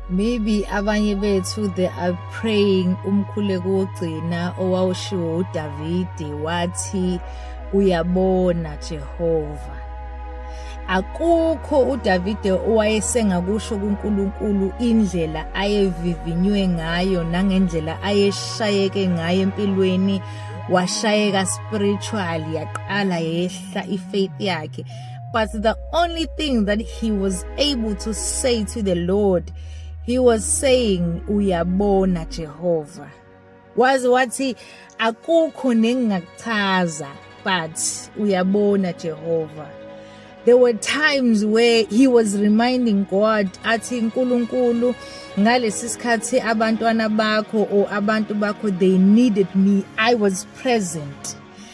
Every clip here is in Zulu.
maybe abanye bethu they are praying umkhuleko wogcina owawushiwo uDavide wathi uyabona Jehova akukho uDavide owayesengakusho kuNkulunkulu indlela ayevivinywe ngayo nangendlela ayeshayeke ngayo empilweni washayeka spiritual yaqala yehla ifaith yakhe But the only thing that he was able to say to the Lord, he was saying, Uyabona Jehovah. Waze wathi akukho nengingakuchaza but uyabona Jehovah. There were times where he was reminding God athi nkulunkulu ngalesi sikhathi abantwana bakho or abantu bakho they needed me I was present.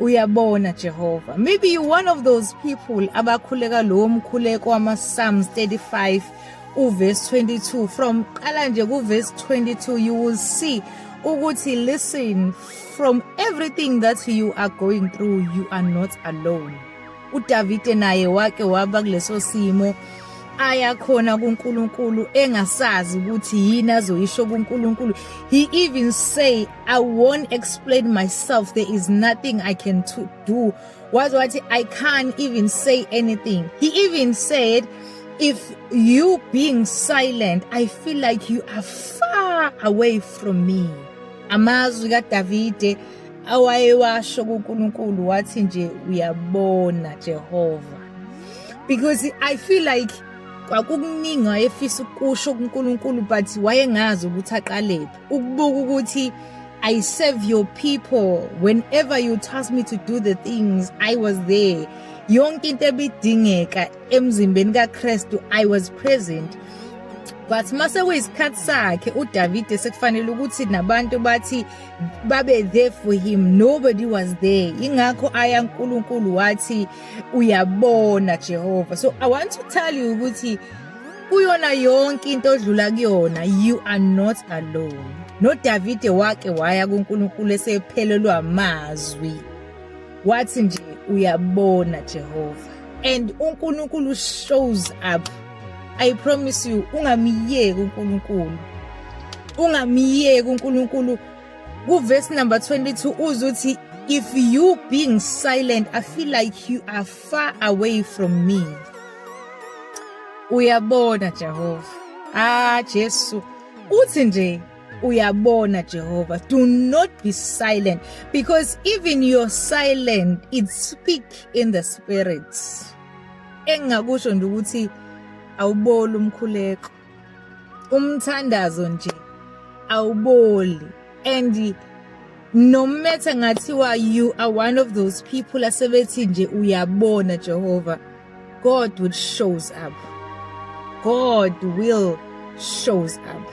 uyabona Jehova maybe you one of those people abakhuleka lowo mkhuleko wama Psalms 35 uverse 22 from qala nje ku verse 22 you will see ukuthi listen from everything that you are going through you are not alone uDavide naye wake waba kuleso simo aya khona kuNkulunkulu engasazi ukuthi yini azoyisho kuNkulunkulu he even say I won't explain myself. There is nothing I can to do. Was what I can't even say anything. He even said, if you being silent, I feel like you are far away from me. Amazwi kaDavide awayewasho kuNkulunkulu wathi nje uyabona Jehova. Because I feel like kwakukuningi wayefisa ukusho kuNkulunkulu but wayengazi ukuthi aqalephi. ukubuka ukuthi I serve your people whenever you task me to do the things I was there yonke into ebidingeka emzimbeni kaKristu I was present but mase kuyisikhathi sakhe uDavide sekufanele ukuthi nabantu bathi babe there for him nobody was there ingakho aya uNkulunkulu wathi uyabona Jehova so i want to tell you ukuthi kuyona yonke into odlula kuyona you are not alone nodavide wake waya kunkulunkulu esephelelwa mazwi wathi nje uyabona jehova and unkulunkulu shows up i promise you ungamyeki unkulunkulu ungamyeki unkulunkulu kuverse number 22 uzuthi if you being silent i feel like you are far away from me uyabona Jehova ah Jesu uthi nje uyabona Jehova do not be silent because even your silent it speak in the spirit engakusho nje ukuthi awuboli umkhuleko umthandazo nje awuboli and nomethe ngathiwa you are one of those people asebethi nje uyabona Jehova God will shows up God will shows up